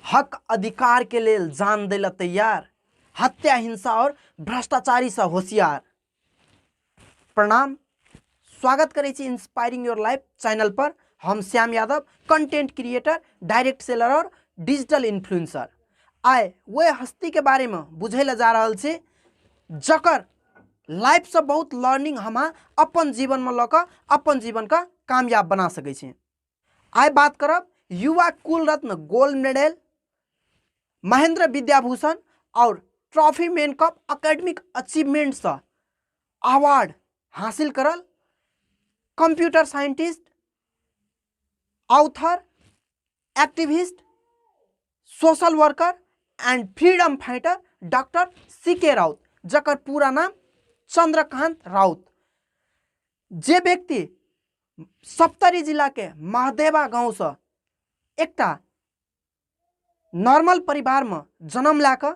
हक अधिकार के लेल जान दे ला तैयार हत्या हिंसा और भ्रष्टाचारी से होशियार प्रणाम स्वागत करै छी इंस्पायरिंग योर लाइफ चैनल पर हम Shyam Yadav content creator direct seller और डिजिटल इन्फ्लुएंसर आय वह हस्ती के बारे में बुझे ला जा रहल छी जकर लाइफ से बहुत लर्निंग हम अपन जीवन में लऽ कऽ अपन जीवन के कामयाब बना सकै छी आइ बात करब युवा कुल रत्न गोल्ड मेडल महेंद्र विद्याभूषण और trophy main cup academic achievement से अवार्ड हासिल करल computer scientist author activist social worker and freedom fighter doctor C K Raut जकर पूरा नाम चंद्रकांत राउत जे व्यक्ति सप्तरी जिलाके महादेवा गाउँसँ एकटा नॉर्मल परिवारमे जन्म लए कऽ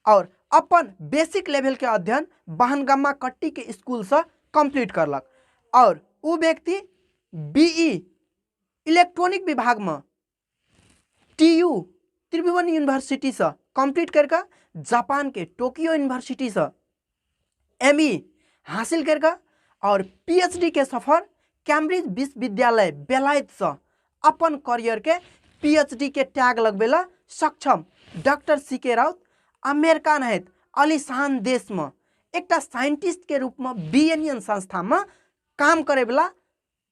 आओर अपन बेसिक लेवलके अध्ययन बहनगम्मा कट्टीके इसकुलसँ कम्प्लीट करलक आओर ओ व्यक्ति बी ई इलेक्ट्रॉनिक विभागमे टी यू त्रिभुवन यूनिवर्सिटीसँ कम्प्लीट करि कऽ जापानके टोकियो यूनिवर्सिटीसँ एम ई हासिल करि कऽ आओर पी एच डी के सफर कैम्ब्रिज विश्वविद्यालय बेलायतसँ अपन करियरके पी एच डी के टैग लगबै लए सक्षम doctor C K Raut America नाहित अलिशान देशमे एकटा साइंटिस्टके रूपमे बी एन एन संस्थामे काम करयवला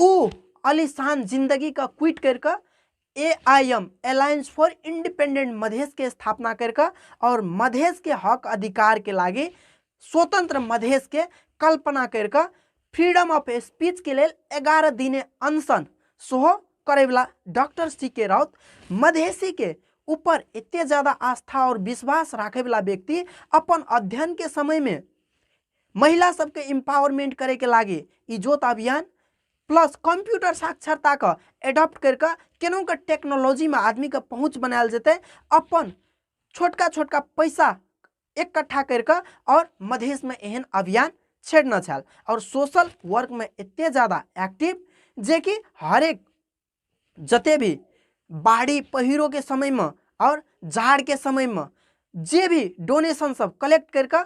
ओ अलिशान जिंदगी का क्विट कर का A I M alliance for independent Madhesh के स्थापना कर का और मधेश के हक अधिकार के लागे स्वतंत्र मधेश के कल्पना कर का फ्रीडम ऑफ स्पीच के लेल ग्यारह दिने अनशन सोह करे वाला doctor C K Raut Madheshi के ऊपर एते ज्यादा आस्था और विश्वास रखे वाला व्यक्ति अपन अध्ययन के समय में महिला सबके इम्पावरमेंट करे के लागी ई जोत अभियान प्लस कंप्यूटर साक्षरता का एडॉप्ट करके केनहू के टेक्नोलॉजी में आदमी का पहुँच बनायल जेते अपन छोटका छोटका पैसा एकट्ठा करके और मधेश में एहन अभियान छेड़ना छल और सोशल वर्क में एते ज़्यादा एक्टिव जे कि हरेक जते भी बाढ़ि पहिरोके समयमे आओर जाड़के समयमे जे भी डोनेशन सब कलेक्ट करि कऽ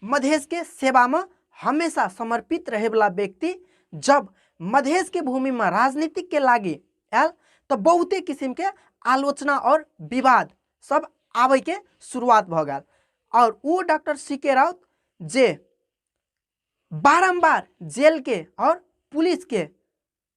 मधेशके सेवामे हमेशा समर्पित रहैवला व्यक्ति जब मधेशके भूमिमे राजनीतिकके लागि आयल तऽ बहुते किसिमके आलोचना आओर विवाद सब आबैके शुरुआत भऽ गेल आओर ओ डॉक्टर सी के राउत जे बारम्बार जेलके आओर पुलिसके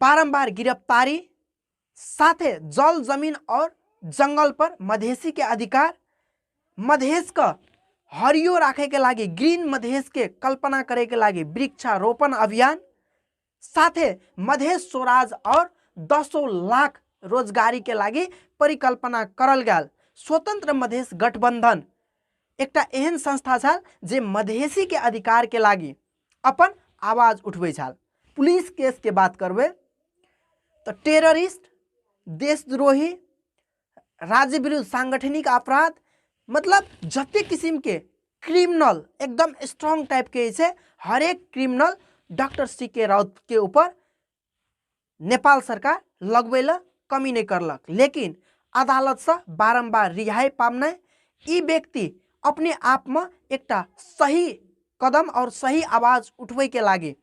बारम्बार गिरफ्तारी साथे जल जमीन और जंगल पर मधेसी के अधिकार मधेस का हरियो राखे के लागी ग्रीन मधेस के कल्पना करे के लागी वृक्षारोपण अभियान साथे मधेस स्वराज और दसों लाख रोजगारी के लागी परिकल्पना करल गया स्वतंत्र मधेस गठबंधन एक एहन संस्था छल जे मधेसी के अधिकार के लागी अपन आवाज उठबै छल पुलिस केसके बात करबै तऽ टेररिस्ट देशद्रोही राज्य विरुद्ध सांगठनिक अपराध मतलब जतेक किसिमके क्रिमिनल एकदम स्ट्रॉङ्ग टाइपके जे छै हरेक क्रिमिनल डॉक्टर सी के राउतके ऊपर नेपाल सरकार लगबै लए कमी नहि करलक लेकिन अदालतसँ बारम्बार रिहाइ पाबने ई व्यक्ति अपने आपमे एकटा सही कदम आओर सही आवाज उठबैके लागे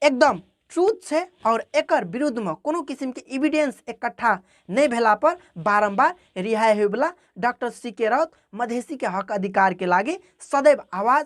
एकदम ट्रूथ छै आओर एकर विरुद्धमे कोनो किसिमके इविडेन्स एकट्ठा नहि भेलापर बारम्बार रिहाइ होइवला डॉक्टर सी के राउत मधेसीके हक अधिकारके लागि सदैव आवाज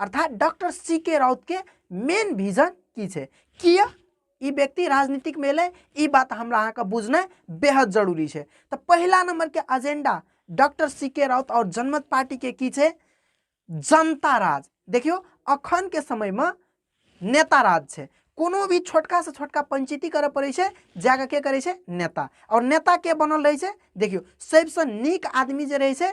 अर्थात डॉक्टर सी के राउत के मेन विजन की छे किया ई व्यक्ति राजनीतिक में एलै ई बात हमरा अहाँके बुझनाइ बेहद जरूरी है तो पहला नंबर के agenda doctor C K Raut और जनमत पार्टी के की है जनता राज देखियो अखन के समय में नेता राज है कोनो भी छोटका से छोटका पंचायती करे पड़े छै जाके के करे नेता और नेता के बनल रहे देखियो सबसे निक आदमी जे रहे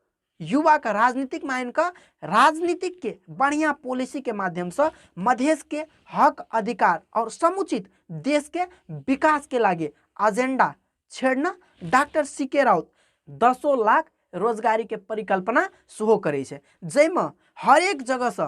युवा के राजनीतिक मायन का राजनीतिक के बढ़िया पॉलिसी के माध्यम से मधेश के हक अधिकार और समुचित देश के विकास के लागे एजेंडा छेड़ना डॉक्टर सी के राउत दसो लाख रोजगारी के परिकल्पना सेहो करे जैम हर एक जगह से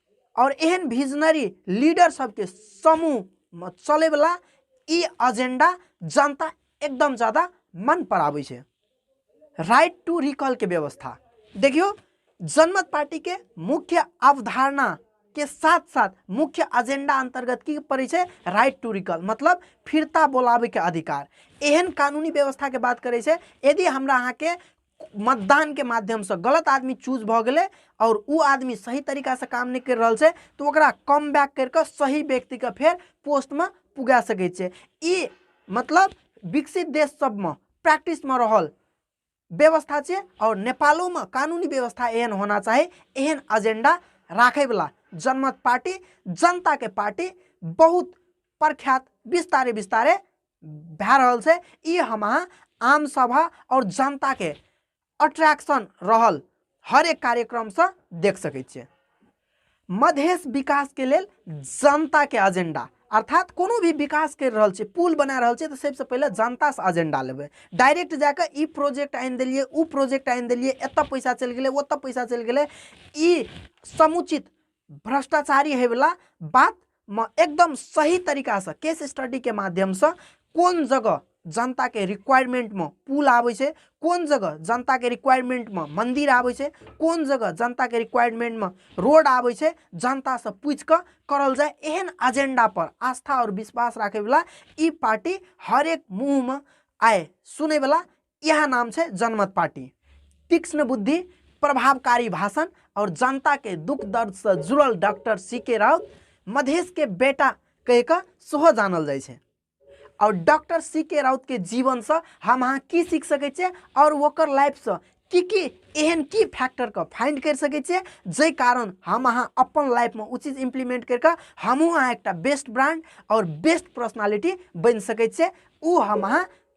और एहन विजनरी लीडर सबके समूह में चले वाला ई एजेंडा जनता एकदम ज्यादा मन पर आवे छे राइट टू रिकॉल के व्यवस्था देखियो जनमत पार्टी के मुख्य अवधारणा के साथ साथ मुख्य एजेंडा अंतर्गत की पड़े छे राइट टू रिकॉल मतलब फिरता बोलावे के अधिकार एहन कानूनी व्यवस्था के बात करे छे यदि हमरा अहाँ के मतदान के माध्यम से गलत आदमी चूज भ गेले और उ आदमी सही तरीका से काम नहीं कर रहल छै तो ओकरा कम बैक करके सही व्यक्ति के फिर पोस्ट में पुगा सके छै ई मतलब विकसित देश सब में प्रैक्टिस में रहल व्यवस्था छै और नेपालो में कानूनी व्यवस्था एहन होना चाहे एहन एजेंडा राखे वाला जनमत पार्टी जनता के पार्टी बहुत प्रख्यात विस्तारे विस्तारे भए रहल छै ई हम अहाँ आम सभा आओर जनताके अट्रैक्शन रहल हर एक कार्यक्रमसँ देख सकैत छियै मधेश विकासके लेल जनताके एजेंडा अर्थात कोनो भी विकास कर रहल छै पुल बना रहल छै तऽ सबसँ पहिले जनतासँ एजेंडा लेबै डायरेक्ट जाकऽ ई प्रोजेक्ट आनि देलियै ओ प्रोजेक्ट आनि देलियै एतऽ पैसा चलि गेलै ओतऽ पैसा चलि गेलै ई समुचित भ्रष्टाचारी होइवला बातमे एकदम सही तरीकासँ केस स्टडीके माध्यमसँ कोन जगह जनताके रिक्वायरमेन्टमे पुल आबै छै कोन जगह जनताके रिक्वायरमेन्टमे मन्दिर आबै छै कोन जगह जनताके रिक्वायरमेन्टमे रोड आबै छै जनतासँ पूछि कऽ करल जाय एहन एजेंडापर आस्था आओर विश्वास राखयवला ई पार्टी हरेक मुँहमे आय सुनयवला इएह नाम छै जनमत पार्टी तीक्ष्ण बुद्धि प्रभावकारी भाषण और जनता के दुख दर्द से जुड़ल doctor C K Raut Madhesh के बेटा कह के सेहो जानल जाइ छै और डॉक्टर सी के राउत के जीवन से हम अहाँ की सीख सके छियै और ओकर लाइफ से की की एहन की फैक्टर के फाइंड कर सके छियै जै कारण हम अहाँ अपन लाइफ में ओ चीज इम्प्लीमेंट करके हमहूँ अहाँ एक बेस्ट ब्रांड और बेस्ट पर्सनालिटी बन सके छियै ओ हम अहाँ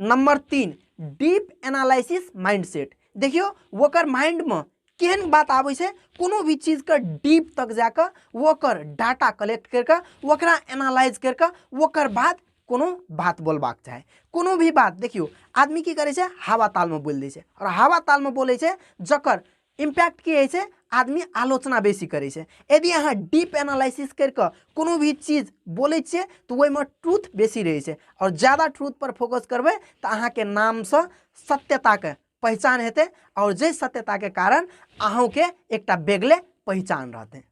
नंबर तीन डीप एनालिसिस माइंडसेट देखियो वकर माइंड में केहन बात आबै छै कोनो भी चीज के डीप तक जाके वकर डाटा कलेक्ट करके वकरा एनालाइज करके वकर बाद कोनो बात बोलबाक चाही कोनो भी बात देखियो आदमी की करे छै हवा ताल में बोल दै छै और हवा ताल में बोले छै जकर इम्पैक्ट की होइ छै आदमी आलोचना बेसी करै छै यदि अहाँ डीप एनालिसिस करि कऽ कोनो भी चीज बोलै छियै तऽ ओहिमे ट्रूथ बेसी रहै छै आओर ज्यादा ट्रूथपर फोकस करबै तऽ अहाँके नामसँ सत्यताके पहचान हेतै आओर जाहि सत्यताके कारण अहूँके एकटा बेगले पहचान रहतै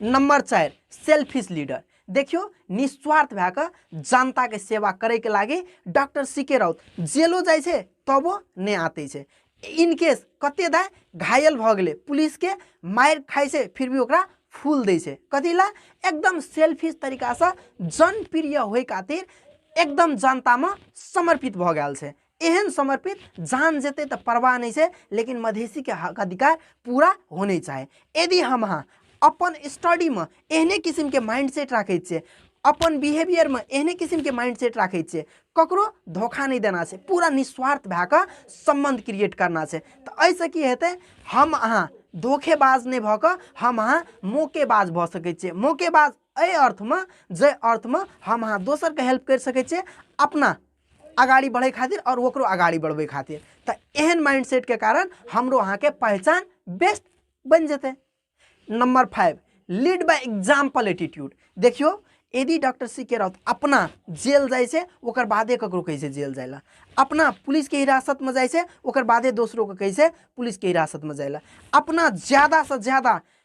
नम्बर चारि सेल्फिस लिडर देखियौ निस्वार्थ भए कऽ जनताके सेवा करैके लागि डॉक्टर सी के राउत जेलो जाइ छै तबो नहि आते छै इनकेस कते दाय घायल भऽ गेलै पुलिसके मारि खाइ छै फिर भी ओकरा फूल दै छै कथी लए एकदम सेल्फिस तरीकासँ जनप्रिय होइ खातिर एकदम जनतामे समर्पित भऽ गेल छै एहन समर्पित जान जेतै तऽ परवाह नहि छै लेकिन मधेसीके हक अधिकार पूरा होने चाही यदि हम अहाँ अपन स्टडीमे एहने किसिमके माइंडसेट राखै छियै अपन बिहेवियरमे एहने किसिमके माइंडसेट राखै छियै ककरो धोखा नहि देना छै पूरा निस्वार्थ भए कऽ सम्बन्ध क्रिएट करना छै तऽ एहिसँ की हेतै हम अहाँ धोखेबाज नहि भऽ कऽ हम अहाँ मौकेबाज भऽ सकै छियै मौकेबाज एहि अर्थमे जाहि अर्थमे हम अहाँ दोसरके हेल्प करि सकै छियै अपना अगाडि बढै खातिर और ओकरो अगाडि बढबै खातिर त एहन माइन्डसेट के कारण हमरो अहाँ के पहचान बेस्ट बन जेतै number five lead by example attitude देखियो यदि डॉक्टर सी के राउत अपना जेल जाइ छै ओकर बादे ककरो कहै छै जेल जाइ ला अपना पुलिस के हिरासत में जाइ छै ओकर बादे दोसरो के कहै छै पुलिस के हिरासत में जाइ ला अपना ज्यादा से ज्यादा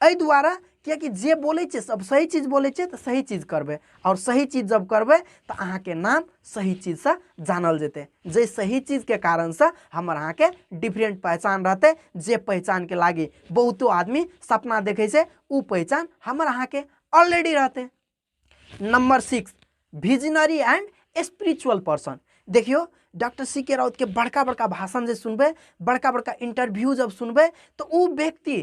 एहि दुआरे किएकि जे बोलै छै सब सही चीज बोलै छै तऽ सही चीज करबै आओर सही चीज जब करबै तऽ अहाँके नाम सही चीजसँ जानल जेतै जे सही चीजके कारणसँ हमर अहाँके डिफरेंट पहचान रहतै जे पहचानके लागी बहुतो आदमी सपना देखै छै ओ पहचान हमर अहाँके ऑलरेडी रहतै number six visionary and spiritual person देखियो डॉक्टर सी के राउत के बड़का बड़का भाषण जे सुनबे बड़का बड़का इंटरव्यू जब सुनबे तो उ व्यक्ति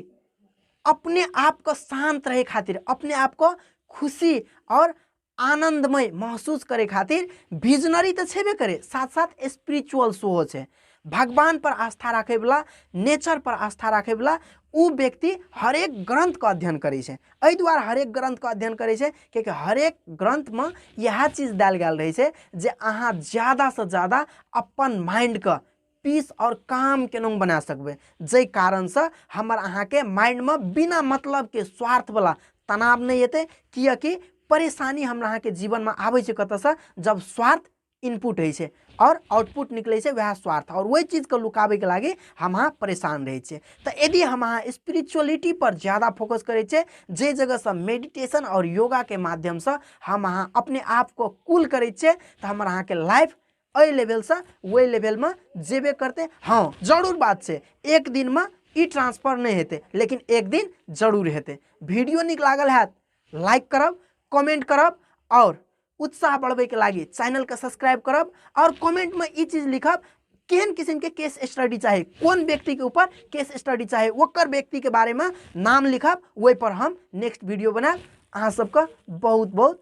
अपने आप को शांत रहे खातिर अपने आप को खुशी और आनंदमय महसूस करे खातिर विजनरी तो छेबे करे साथ साथ स्पिरिचुअल सेहो छै भगवान पर आस्था राखे वाला नेचर पर आस्था राखे वाला उ व्यक्ति हरेक ग्रंथ के अध्ययन करे छे ए द्वारा हरेक ग्रंथ के अध्ययन करे छे क्योंकि हरेक ग्रंथ में यह चीज दाल गल रहे छे जे अहा ज्यादा से ज्यादा अपन माइंड के पीस और काम के नोंग बना सकबे जे कारण से हमर अहा के माइंड में बिना मतलब के स्वार्थ वाला तनाव नहीं हेते किया कि परेशानी हमरा अहा के जीवन में आवे छे कत से जब स्वार्थ इनपुट होइ छै आओर आउटपुट निकलै छै वएह स्वार्थ आओर ओहि चीजके लुकाबैके लागि हम अहाँ परेशान रहै छियै तऽ यदि हम अहाँ स्पिरिचुअलिटी पर ज्यादा फोकस करै छियै जे जगहसँ मेडिटेशन आओर योगाके माध्यमसँ हम अहाँ अपने आपके कूल करै छियै तऽ हमर अहाँके लाइफ एहि लेवलसँ ओहि लेवलमे जेबे करतै हँ जरूर बात छै एक दिनमे ई ट्रांसफर नहि हेतै लेकिन एक दिन जरूर हेतै वीडियो नीक लागल हैत लाइक करब कमेंट करब आओर उत्साह बढ़बैके लागि चैनलके सब्सक्राइब करब आओर कमेंटमे ई चीज लिखब केहन किसिमके केस स्टडी चाही कोन व्यक्तिके ऊपर केस स्टडी चाही ओकर व्यक्तिके बारेमे नाम लिखब ओहिपर हम नेक्स्ट वीडियो बनायब अहाँ सबके बहुत बहुत